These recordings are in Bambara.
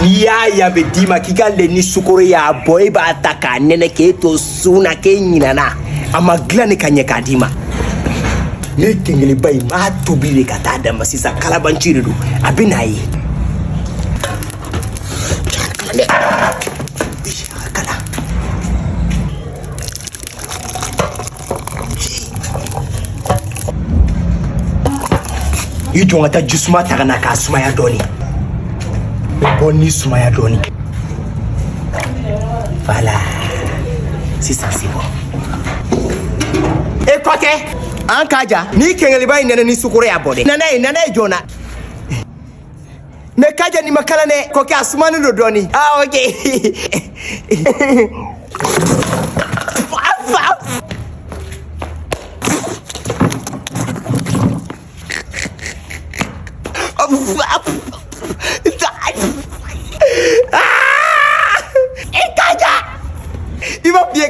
n'i y'a y'a bɛ d'i ma k'i k'a lɛ ni sukoro y'a bɔ e b'a ta k'a nɛnɛ k'e to sun na k'e ɲinana a ma dilan de ka ɲɛ k'a d'i ma ne kɛnkɛliba in b'a tobi de ka taa d'a ma sisan kalabanci de don a bɛ n'a ye i jɔ n ka taa jisuma ta ka na k'a sumaya dɔɔni bon i sumaya dɔɔni voilà sisan c'est bon e kɔkɛ an kaja nin kɛnkɛliba in nɛnɛ ni sukoro y'a bɔ dɛ na n'a ye na n'a ye joona mais kaja nin man kalan dɛ kɔkɛ a sumanen don dɔɔni ah okay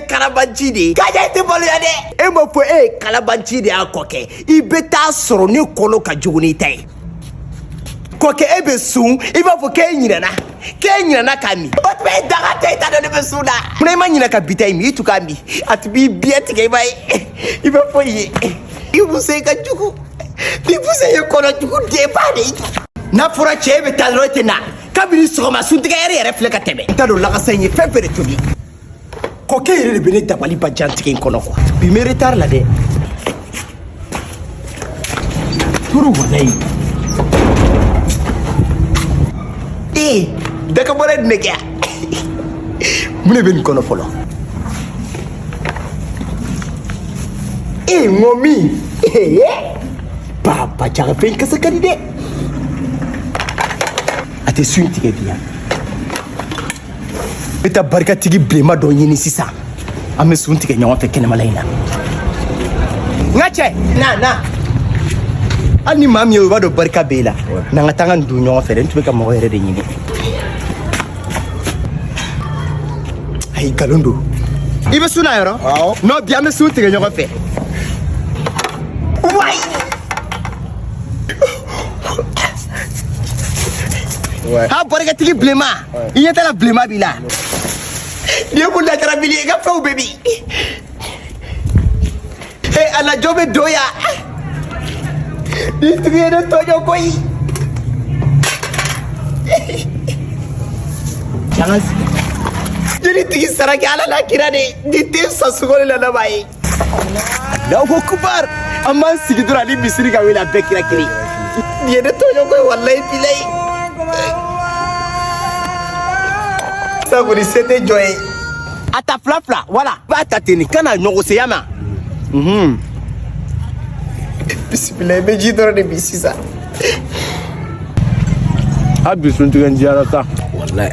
kalabanci de ye kaja i tɛ maloya dɛ e m'a fɔ e ye kalabanci de ye a kɔkɛ i bɛ t'a sɔrɔ ne kɔnɔ ka jugu n'i ta ye kɔkɛ e bɛ sun i b'a fɔ k'e ɲinɛna k'e ɲinɛna ka min o tuma e daga tɛ i ta dɔn ne bɛ sun na mun na i ma ɲinɛ ka bita in min i tun k'a min a tun b'i biɲɛ tigɛ i b'a ye i b'a fɔ ye i muso ka jugu ni muso ye kɔnɔ jugu denba de ye n'a fɔra cɛ e bɛ taa dɔrɔn e tɛ na kabini sɔgɔma suntigɛ yɛrɛ yɛrɛ filɛ ka tɛmɛ n t'a dɔn lakasa in ye fɛn fɛn de tobi kɔkɛ yɛrɛ de bɛ ne dabaliban jantigɛ in kɔnɔ quoi bi n bɛ retard la dɛ turu walayi ee daga bɔra ye ne k'a ye mun de bɛ nin kɔnɔ fɔlɔ ee n ko min ee baba jaga fɛn kasa ka di dɛ a tɛ suntigɛ diya bɛ taa barikatigi bilenma dɔ ɲini sisan an bɛ sun tigɛ ɲɔgɔn fɛ kɛnɛmala in na n ka cɛ na na hali ni maa min ye o b'a dɔn barika b'e la n'an ka taa ka nin dun ɲɔgɔn fɛ dɛ n tun bɛ ka mɔgɔ yɛrɛ de ɲini ayi nkalon don i bɛ sun na yɔrɔ nɔ bi an bɛ sun tigɛ ɲɔgɔn fɛ wayi ha barikatigi bilenma i ɲɛ t'a la bilenma b'i la nin ye ko lajarabili ye i ka fɛnw bɛɛ bi e alajɔ bɛ don yan nin tigi ye ne tɔjɔ koyi jeli tigi saraki ala la kira de nin tɛ sa sugoli la laban ye da ko kubar amma sigi dura ni bisiri ka wele a bɛɛ kira kiri ye ne tɔɲɔ koyi walayi bilayi sa kɔni se tɛ jɔ ye a ta fila fila wala b'a ta ten nin kana ɲɔgɔnseya ma bisimila i bɛ ji dɔrɔn de bi sisan a bi sun tigɛ n diyara sa walayi